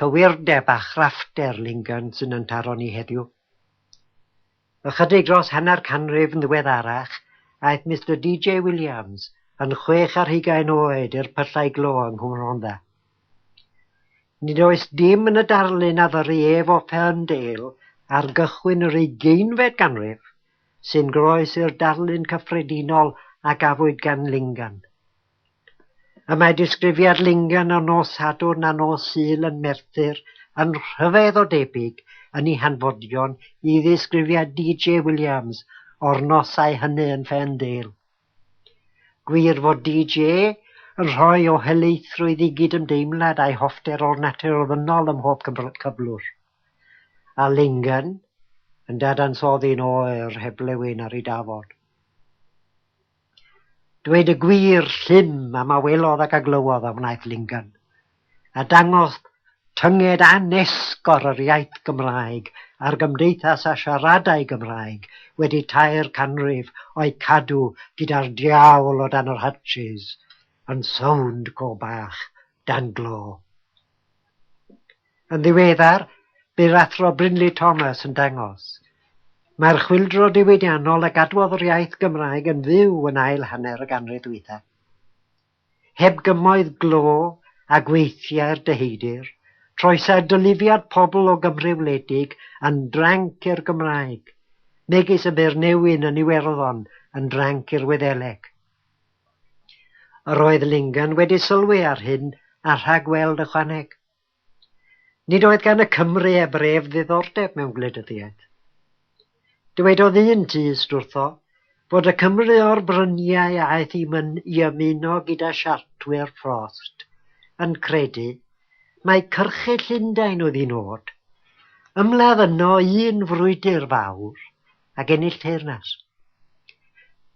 Cywirdeb a chraffter Lingen sy'n yn taro ni heddiw. Ychydig dros hanner canrif yn ddiweddarach, aeth Mister DJ Williams, yn chwech ar hugain oed, i'r pyllau glo yng Nghwm Rhondda. Nid oes dim yn y darlun a ddyrru ef o Ferndale ar gychwyn yr ugeinfed ganrif, sy'n groes i'r darlun cyffredinol a gafwyd gan Lingen. Y mae disgrifiad Lingen o nos Sadwrn a nos Sul yn Merthyr yn rhyfedd o debyg yn ei hanfodion i ddisgrifiad DJ Williams o'r nosau hynny yn Ferndale. Gwir fod DJ yn rhoi o helaethrwydd i gydymdeimlad a'i hoffter o'r natur ofynnol ym mhob cyflwr, a Lingen yn dadansoddi'n oer heb flewyn ar ei dafod. Dweud y gwir, llym am a welodd ac a glywodd a wnaeth Lyngen, a dangodd tynged anesgor yr iaith Gymraeg a'r gymdeithas a siaradai Gymraeg wedi tair canrif o'i cadw gyda'r diawl o dan yr hatches yn sownd go bach dan glo. Yn ddiweddar, bu'r Athro Brinley Thomas yn dangos, mai'r chwyldro diwydiannol a gadwodd yr iaith Gymraeg yn fyw yn ail hanner y ganrif ddwytha. Heb gymoedd glo a gweithiau'r deheudir, troesai dylufiad pobl o Gymru wledig yn dranc i'r Gymraeg, megis y bu'r newyn yn Iwerddon yn dranc i'r Wyddeleg. Yr oedd Lingan wedi sylwi ar hyn a rhagweld ychwaneg. Nid oedd gan y Cymry eb ref ddiddordeb mewn gwleidyddiaeth. Dywedodd un tyst wrtho fod y Cymry o'r bryniau a aeth i myn i ymuno gyda Siartwyr Frost yn credu mai cyrchu Llundain oedd un od. Ymladd yno un frwydr fawr ac ennill teyrnas.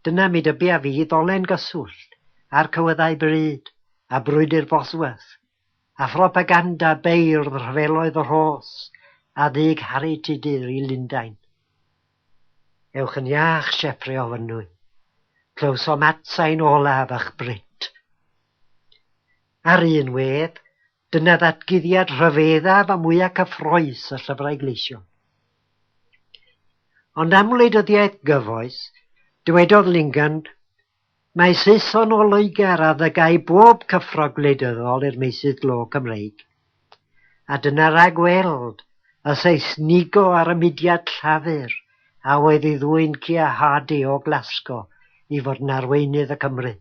Dyna mi dybia fi ddolen gyswllt â'r cywyddau bryd a brwydr Bosworth. a phropaganda beirdd rhyfeloedd y Rhos a dug Harri Tudur i Lundain. Ewch yn iach, Sieffre o Fynwy. Clywsom atsain olaf ych brut. Ar un wedd, dyna ddatguddiad rhyfeddaf a mwyaf cyffroes y llyfrau gleision. Ond am wleidyddiaeth gyfoes, dywedodd Lingen Mae Saeson o Loegr addygau bob cyffro gwleidyddol i'r meysydd glo Cymreig. A dyna ragweld y Seisnigo ar y mudiad Llafur a oedd ei ddwyn Keir Hardie o Glasgo i fod yn arweinydd y Cymry.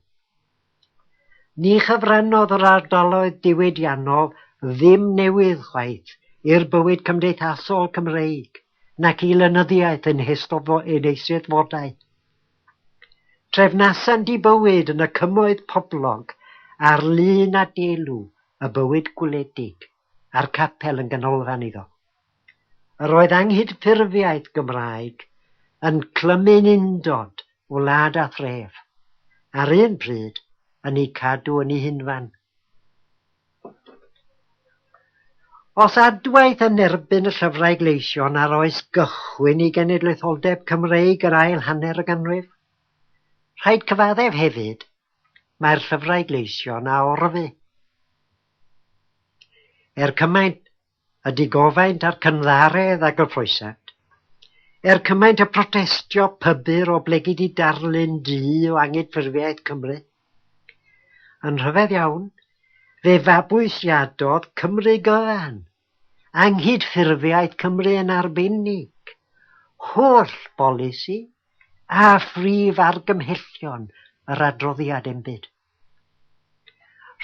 Ni chyfrannodd yr ardaloedd diwydiannol ddim newydd chwaith i'r bywyd cymdeithasol Cymreig nac i lenyddiaeth yn ei eisteddfodau. Trefnasant dibywyd yn y cymoedd poblog ar lun a delw y bywyd gwledig, a'r capel yn ganolfan iddo. Yr oedd anghydffurfiaeth Gymraeg yn clymu'n undod wlad a thref, a'r un pryd yn eu cadw yn eu hunfan. Os adwaith yn erbyn y llyfrau gleision ar oes gychwyn i genedlaetholdeb Cymreig yr ail hanner y ganrif? Rhaid cyfaddef hefyd, mae'r llyfrau gleision a orfu. Er cymaint y digofaint a'r cynddaredd a gyfoesant. Er cymaint y protestio pybyr oblegid i darlun du o angydffurfiaeth Cymru. Yn rhyfedd iawn, fe fabwysiadodd Cymru gyfan anghydffurfiaeth Cymru yn arbennig, holl bolisi a phrif argymhellion yr adroddiad enbyd.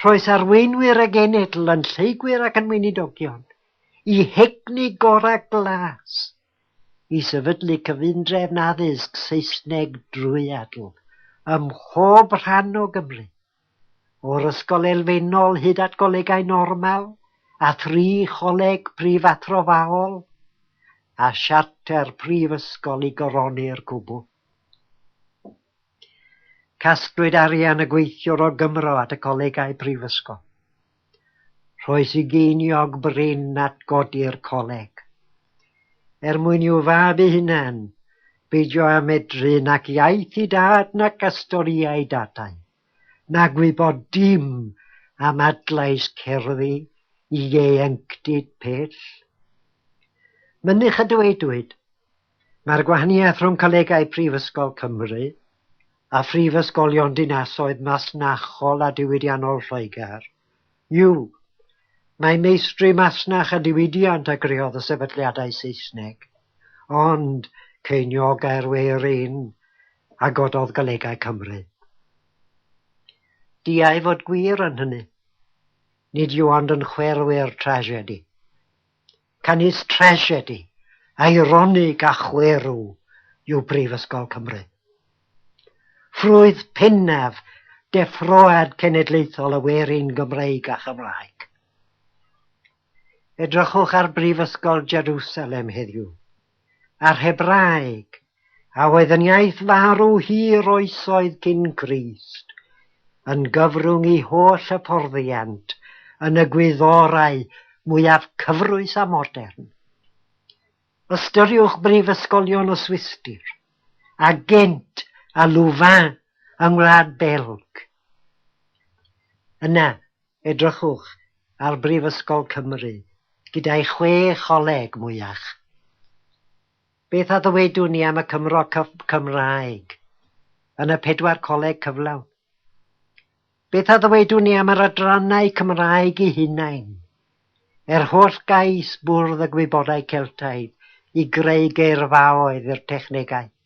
Rhoes arweinwyr a genedl yn lleygwyr ac yn weinidogion, i hegni gorau glas, i sefydlu cyfundrefn addysg Saesneg drwyadl ym mhob rhan o Gymru, o'r ysgol elfennol hyd at golegau normal a thri choleg prifathrofaol, a siarter prifysgol i goroni'r cwbl. Casglwyd arian y gweithiwr o Gymro at y coleg a'i brifysgol. Rhoes i geiniog brin at godi'r coleg. Er mwyn i'w fab ei hunan beidio â medru nac iaith ei dad nac astoriau dadau, na gwybod dim am adlais cerddi ieuenctid pell. Mynych a dywedwyd, Mae'r gwahaniaeth rhwng colegau Prifysgol Cymru a phrifysgolion dinasoedd masnachol a diwydiannol Lloegr yw mai meistri masnach a diwydiant a greodd y sefydliadau Saesneg, ond ceiniogai'r we yr un a gododd Golegau Cymru. Diau fod gwir yn hynny, nid yw ond yn chwerw'r tragedi. Canys trasiedi, eironig a chwerw yw Prifysgol Cymru. Ffrwyth pinnaf deffroad cenedlaethol y werin Gymreig a Chymraeg. Edrychwch ar Brifysgol Jerusalem heddiw. a'r Hebraeg, a oedd yn iaith farw hir oesoedd cyn Grist, yn gyfrwng i holl hyfforddiant yn y gwyddorau mwyaf cyfrwys a modern. Ystyriwch brifysgolion y Swistir, a Ghent a Louvain yng Ngwlad Belg. Yna, Edrychwch ar Brifysgol Cymru gyda'i chwe choleg mwyach. Beth a ddywedwn ni am y Cymro Cyf Cymraeg yn y pedwar coleg cyflawn? Beth a ddywedwn ni am yr adrannau Cymraeg'u hunain? Er holl gais Bwrdd y Gwybodau Celtaidd i greu geirfaoedd i'r technegau,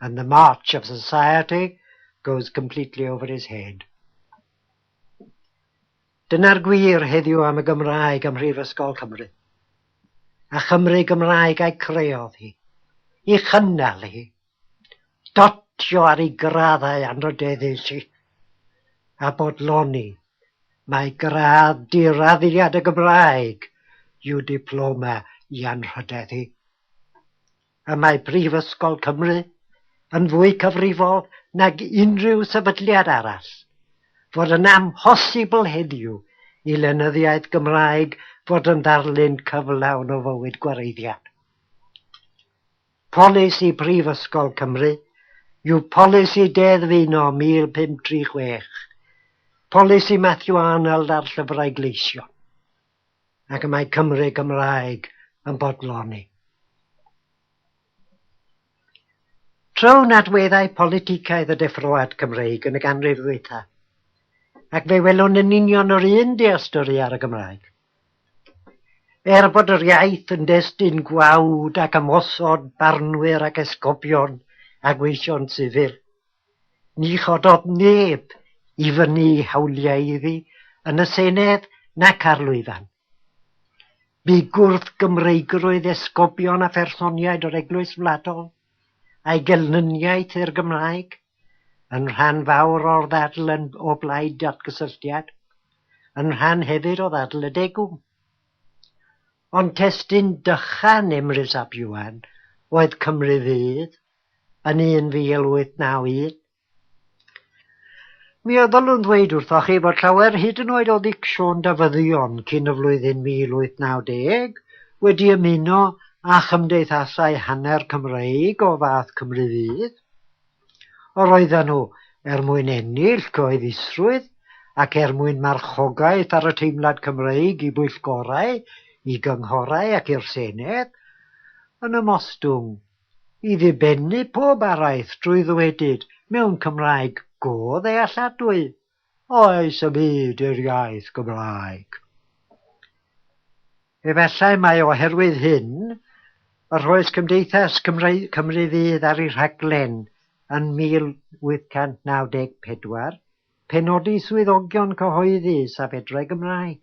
and the march of society goes completely over his head. Dyna'r gwir heddiw am y Gymraeg ym Mhrifysgol Cymru. A Chymru Gymraeg a'i creodd hi, i chynnal hi, dotio ar ei graddau anrhydeddus i, a bodloni mae gradd diraddiad y Gymraeg yw diploma i anrhydeddu. y mae Prifysgol Cymru yn fwy cyfrifol nag unrhyw sefydliad arall, fod yn amhosibl heddiw i lenyddiaeth Gymraeg fod yn ddarlun cyflawn o fywyd gwareiddiad. Polisi Prifysgol Cymru yw Polisi Deddf'Uno 1536, Polisi Matthew Arnold ar Llyfrau Gleision. ac y mae Cymry Gymraeg yn bodloni. Tro'n adweddau politicaidd y deffroad Cymreig yn y ganrif ddwytha, ac fe welwn yn union yr un dealltwri ar y Gymraeg. Er bod yr iaith yn destun gwawd ac ymosod barnwyr ac esgobion a gweithion sifil, Ni chododd neb i fynnu hawliau iddi yn y Senedd nac ar lwyfan. Bu gwrth-Gymreigrwydd esgobion a phersoniaid yr Eglwys Wladol, a'i gelnyniaeth i'r Gymraeg, yn rhan fawr o'r ddadl yn o blaid datgysylltiad, yn rhan hefyd o ddadl y degwm. Ond testun dychan Emrys ap Iwan oedd Cymru Fydd yn 1891. Mi a ddylwn ddweud wrthoch chi fod llawer hyd yn oed o ddicsiwn Dafyddion cyn y flwyddyn 1890 wedi ymuno â chymdeithasau hanner Cymreig o fath Cymru Fydd. Yr oedden nhw er mwyn ennill cyhoeddusrwydd ac er mwyn marchogaeth ar y teimlad Cymreig i bwyllgorau, i gynghorau ac i'r Senedd, yn ymostwng i ddibennu pob araith drwy ddwedyd mewn Cymraeg go ddealladwy, oes y byd i'r iaith Gymraeg? Efallai mai oherwydd hyn y rhoes Cymdeithas Cymry Cymru Fydd ar ei rhaglen yn 1894 penodi swyddogion cyhoeddus a fedrai Gymraeg.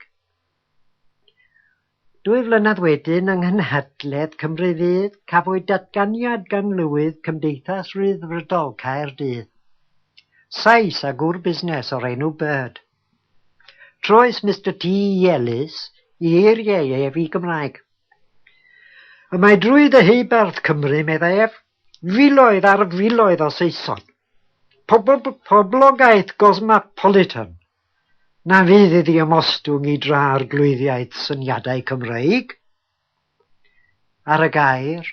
Dwy flynedd wedyn yng nghynhadledd Cymru Fydd cafwyd datganiad gan Lywydd Cymdeithas Rhyddfrydol Caerdydd, Sais a gŵr busnes o'r enw Bird. Troes Mister T i Elis i eiriau ef i Gymraeg. Y mae drwy ddeheubarth Cymru, meddai ef, filoedd ar filoedd o Saeson. Pobl, poblogaeth gosmapolitan, Na fydd iddi ymostwng i dra arglwyddiaeth syniadau Cymreig. Ar y gair,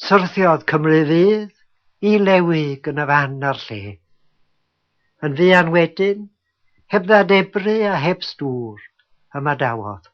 syrthiodd Cymru Fydd i Lewig yn y fan a'r lle. Yn fuan wedyn, heb ddadebru a heb stŵr, ymadawodd.